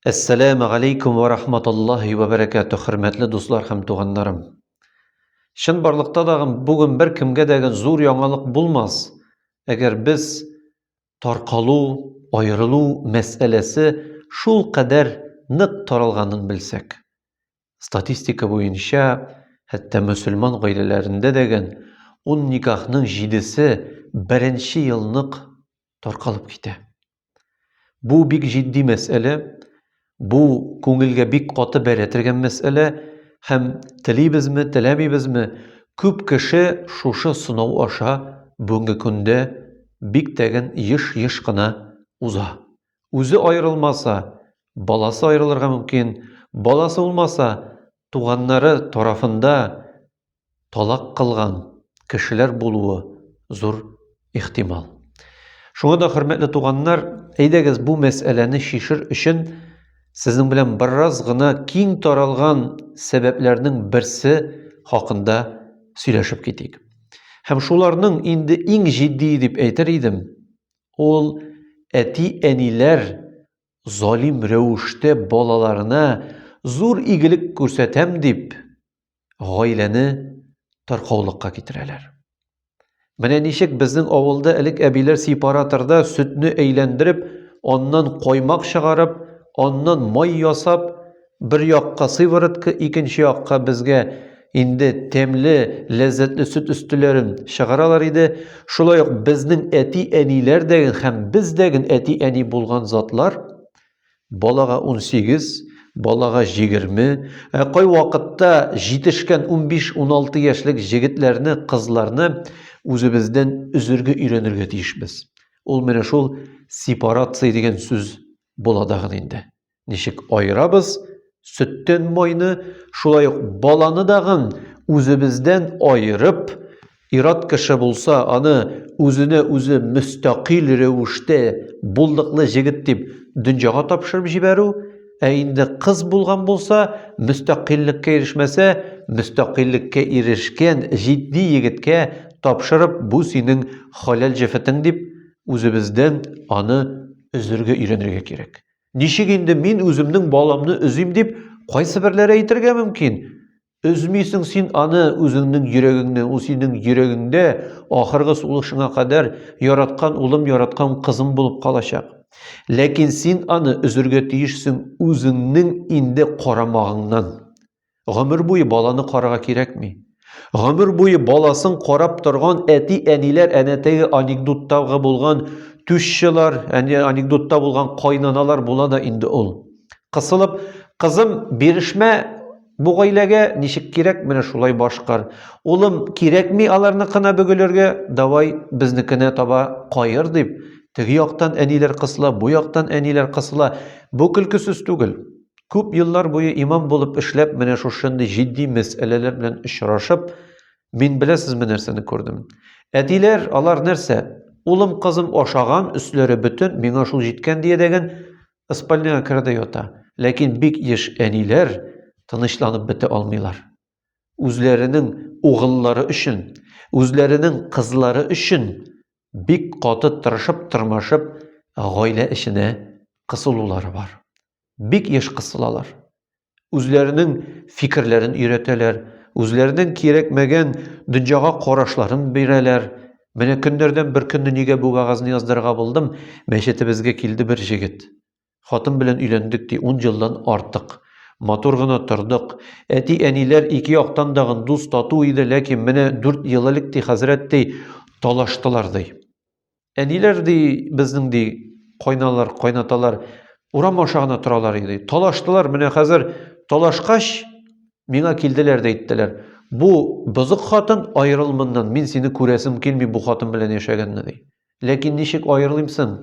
Әссәләмә галейкум вә рахматуллаһи вә бәрәкәтү, хөрмәтле дуслар һәм туганнарым. Чын барлыкта дагы бүген бер кемгә дә зур яңалык булмас, әгәр без таркалу, аерылу мәсьәләсе шул кадәр нык таралганын белсәк. Статистика буенча, хәтта мөселман гаиләләрендә дәген ун никахның җидесе беренче елнык таркалып китә. Бу бик җитди мәсьәлә, бу күңелгә бик каты бәрә тергән мәсьәлә һәм телибезме, теләмибезме, күп кеше шушы сынау аша бүгенге көндә бик тәген еш-еш кына уза. Үзе аерылмаса, баласы аерылырга мөмкин, баласы булмаса, туганнары тарафында талак кылган кешеләр булуы зур ихтимал. Шуңа да, хөрмәтле туганнар, әйдәгез бу мәсьәләне чишер өчен сезнең белән бераз гына киң таралган сәбәпләрнең берсе хакында сөйләшеп китик. Һәм шуларның инде иң җитди дип әйтер идем, ул әти-әниләр залим рәвештә балаларына зур игелек күрсәтәм дип, гаиләне таркаулыкка китерәләр. Менә ничек безнең авылда элек әбиләр сепараторда сөтне әйләндереп, аннан каймак чыгарып, аннан май ясап, бер якка сыворотка, икенче якка безгә инде тәмле, ләззәтле сөт өстеләрен чыгаралар иде. Шулай ук безнең әти-әниләр дә һәм без дә әти-әни булган затлар Балага 18, балага 20, ә кай вакытта җитешкән 15-16 яшьлек җегетләрне, кызларны үзебездән өзергә өйрәнергә тиешбез. Ул менә шул сепарация дигән сүз була дагын инде. Ничек аерабыз сөттән майны, шулай ук баланы дагын үзебездән аерып, Ир-ат кеше булса, аны үзенә үзе мөстәкыйль рәвештә булдыклы җегет дип дөньяга тапшырып җибәрү, ә инде кыз булган булса, мөстәкыйльлеккә ирешмәсә, мөстәкыйльлеккә ирешкән җитди егеткә тапшырып, бу синең хәләл җефетең дип, үзебездән аны өзергә өйрәнергә кирәк. Ничек инде мин үземнең баламны өзим дип, кайсыберләре әйтергә мөмкин, Өзмисең син аны, үзеңнең йөрәгеңне, ул синең йөрәгеңдә ахыргы сулышыңа кадәр яраткан улым, яраткан кызым булып калачак. Ләкин син аны өзергә тиешсең үзеңнең инде карамагыңнан. Гомер буе баланы карага кирәкми. Гомер буе баласын карап торган әти-әниләр әнә теге анекдоттагы булган тушчылар, әне анекдотта булган кайнаналар була да инде ул. Кысылып, кызым, бирешмә, Бу гаиләгә ничек кирәк, менә шулай башкар. Улым, кирәкми аларныкына бөгелергә, давай безнекенә таба каер, дип, теге яктан әниләр кысыла, бу яктан әниләр кысыла. Бу көлкесез түгел. Күп еллар буе имам булып эшләп, менә шушындый җитди мәсьәләләр белән очрашып, мин беләсезме нәрсәне күрдем? Әтиләр, алар нәрсә? Улым, кызым ашаган, өсләре бөтен, миңа шул җиткән диядәген Ыспальныйга керде ята. Ләкин бик еш әниләр тынычланып бетә алмыйлар. Үзләренең угыллары өчен, үзләренең кызлары өчен бик каты тырышып-тырмашып гаилә эченә кысылулары бар. Бик еш кысылалар. үзләренең фикерләрен өйрәтәләр, үзләренең кирәкмәгән дөньяга карашларын бирәләр. Менә көннәрдән бер көнне нигә бу вәгазьне яздырырга булдым, мәчетебезгә килде бер җегет. Хатын белән өйләндек, ди, ун елдан артык. Матур гына тордык. Әти-әниләр ике яктан да дус тату иде, ләкин менә дүрт ел элек, ди, хәзрәт, ди, талаштылар, ди. Әниләр ди, безнең ди, кайналар, кайнаталар, урам аша гына торалар иде. Талаштылар, менә хәзер талашкач, миңа килделәр дә әйттеләр. Бу бозык хатын, аерыл моннан, мин сине күрәсем килми бу хатын белән яшәгәнне ди. Ләкин ничек аерылыйм соң?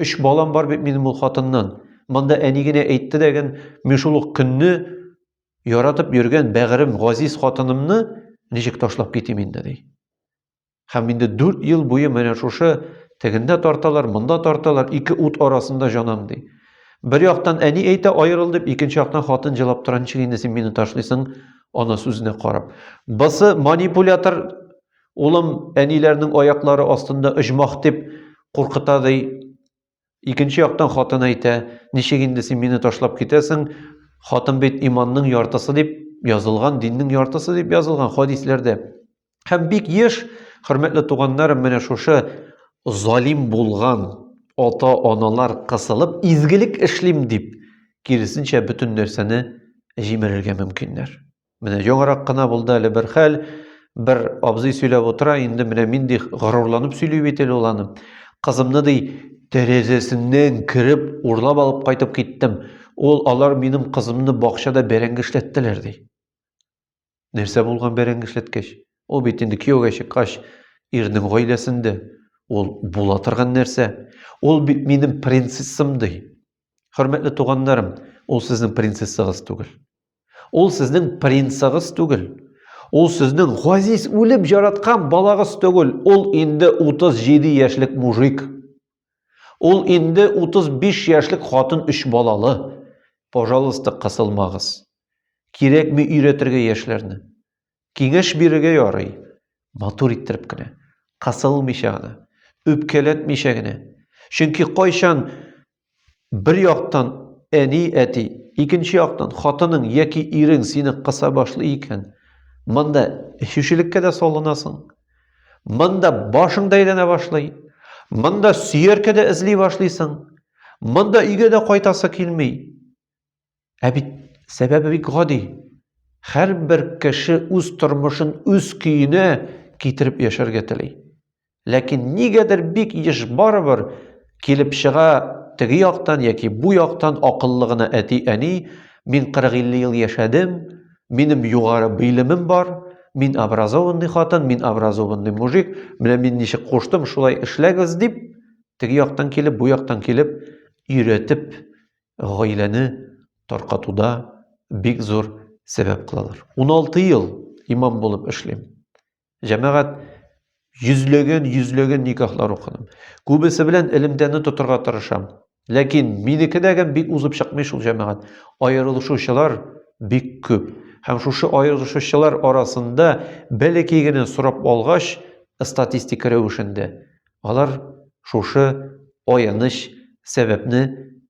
Өч балам бар бит минем ул хатыннан. Монда әни генә әйтте дәген, мин шул ук көнне яратып йөргән бәгырем, газиз хатынымны ничек ташлап китим инде ди. Һәм инде 4 ел буе менә шушы тегендә тарталар, монда тарталар, ике ут арасында җанам ди. Бер яктан әни әйтә аерыл дип, икенче яктан хатын җылап тора, ничек инде син мине ташлыйсың, ана сүзенә карап. Бысы манипулятор, улым, әниләрнең аяклары астында оҗмах дип куркыта ди. Икенче яктан хатын әйтә, ничек инде син мине ташлап китәсең? Хатын бит иманның яртысы дип язылган, диннең яртысы дип язылган хадисләрдә. Һәм бик еш, хөрмәтле туганнарым, менә шушы залим булган ата-аналар кысылып, изгелек эшлим дип, киресенчә бөтен нәрсәне җимерергә мөмкиннәр. Менә яңарак кына булды әле бер хәл, бер абзый сөйләп утыра, инде менә мин ди горурланып сөйли бит әле ул аны. Кызымны ди тәрәзәсеннән кереп урлап алып кайтып киттем. Ул алар минем кызымны бакчада бәрәңге эшләттеләр ди. Нәрсә булган бәрәңге эшләткәч? Ул бит инде кияүгә чыккач ирнең гаиләсендә. Ул була торган нәрсә. Ул бит минем принцессам ди. Хөрмәтле туганнарым, ул сезнең принцессагыз түгел. Ул сезнең принцыгыз түгел. Ул сезнең газиз үлеп жараткан балагыз түгел. Ул инде 37 яшьлек мужик. Ул инде 35 яшьлек хатын өч балалы. Пожалуйста, кысылмагыз. Кирәкми өйрәтергә яшьләрне. Киңәш бирергә ярый, матур иттереп кенә, кысылмыйча гына, үпкәләтмичә генә. Чөнки кайчан бер яктан әни, әти, икенче яктан хатының яки ирең сине кыса башлый икән, монда эчүчелеккә дә салынасың. Монда башың да әйләнә башлый. Монда сөяркә дә эзли башлыйсың. Монда өйгә дә кайтасы килми. Ә бит сәбәбе бик гади. Һәрбер кеше үз тормышын үз көенә китереп яшәргә тели. Ләкин нигәдер бик еш барыбер килеп чыга теге яктан яки бу яктан акыллы гына әти-әни, мин 40-50 ел яшәдем, минем югары белемем бар, мин образованный хатын, мин образованный мужик, менә мин ничек куштым, шулай эшләгез дип, теге яктан килеп, бу яктан килеп, өйрәтеп гаиләне таркатуда бик зур сәбәп кылалар. 16 ел имам булып эшлим. Җәмәгать йөзлеген, йөзлеген никахлар укыдым. Күбесе белән элемтәне тотырга тырышам. Ләкин минекедәгем бик узып чыкмый шул җәмәгать. Аерылышучылар бик күп. Һәм шушы аерылышучылар арасында бәләкәй генә сорап алгач, статистика рәвешендә Алар шушы аяныч сәбәпне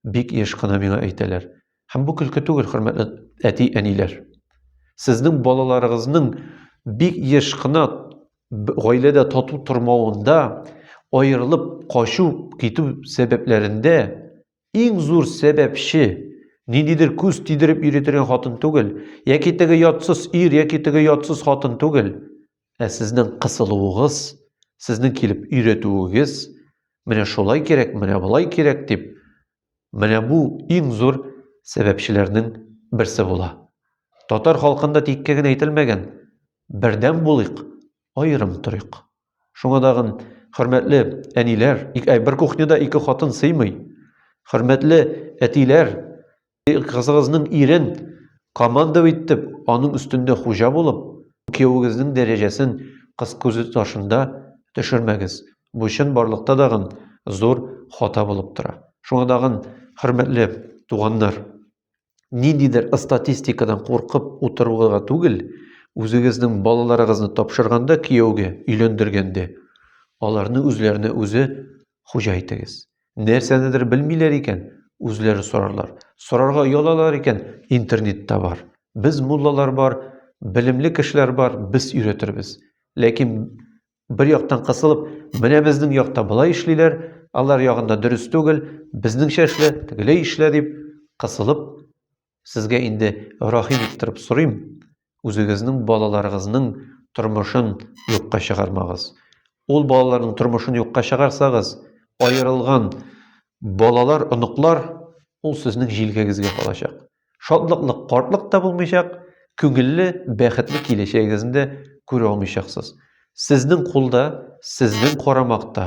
бик еш кына миңа әйтәләр. Һәм бу көлке түгел, хөрмәтле әти-әниләр. Сезнең балаларыгызның бик еш кына гаиләдә тату тормавында, аерылып качу, китү сәбәпләрендә иң зур сәбәпче ниндидер күз тидереп йөри торган хатын түгел, яки теге ятсыз ир, яки теге ятсыз хатын түгел. Ә сезнең кысылуыгыз, сезнең килеп өйрәтүегез, менә шулай кирәк, менә болай кирәк дип, менә бу иң зур сәбәпчеләрнең берсе була. Татар халкында тиккә генә әйтелмәгән, бердәм булыйк, аерым торыйк. Шуңа дагын, хөрмәтле әниләр, бер кухняда ике хатын сыймый. Хөрмәтле әтиләр, Кызыгызның ирен командов итеп, аның өстендә хуҗа булып, киявегезнең дәрәҗәсен кыз күзе ташында төшермәгез. Бу чын барлыкта дагын зур хата булып тора. Шуңа дагын, хөрмәтле туганнар, ниндидер статистикадан куркып утыруга түгел, үзегезнең балаларыгызны тапшырганда кияүгә, өйләндергәндә, аларны үзләренә үзе хуҗа итегез. Нәрсәнедер белмиләр икән, үзләре сорарлар. Сорарга оялалар икән, интернетта бар. Без муллалар бар, белемле кешеләр бар, без өйрәтербез. Ләкин бер яктан кысылып, менә безнең якта болай эшлиләр, алар ягында дөрес түгел, безнеңчә эшлә, тегеләй эшлә дип кысылып, Сезгә инде рәхим иттереп сорыйм, үзегезнең балаларыгызның тормышын юкка чыгармагыз. Ул балаларның тормышын юкка чыгарсагыз, аерылган балалар, оныклар ул сезнең җилкәгезгә калачак. Шатлыклы картлык та булмыйчак, күңелле, бәхетле киләчәгегезне дә күрә алмыйчаксыз. Сезнең кулда, сезнең карамакта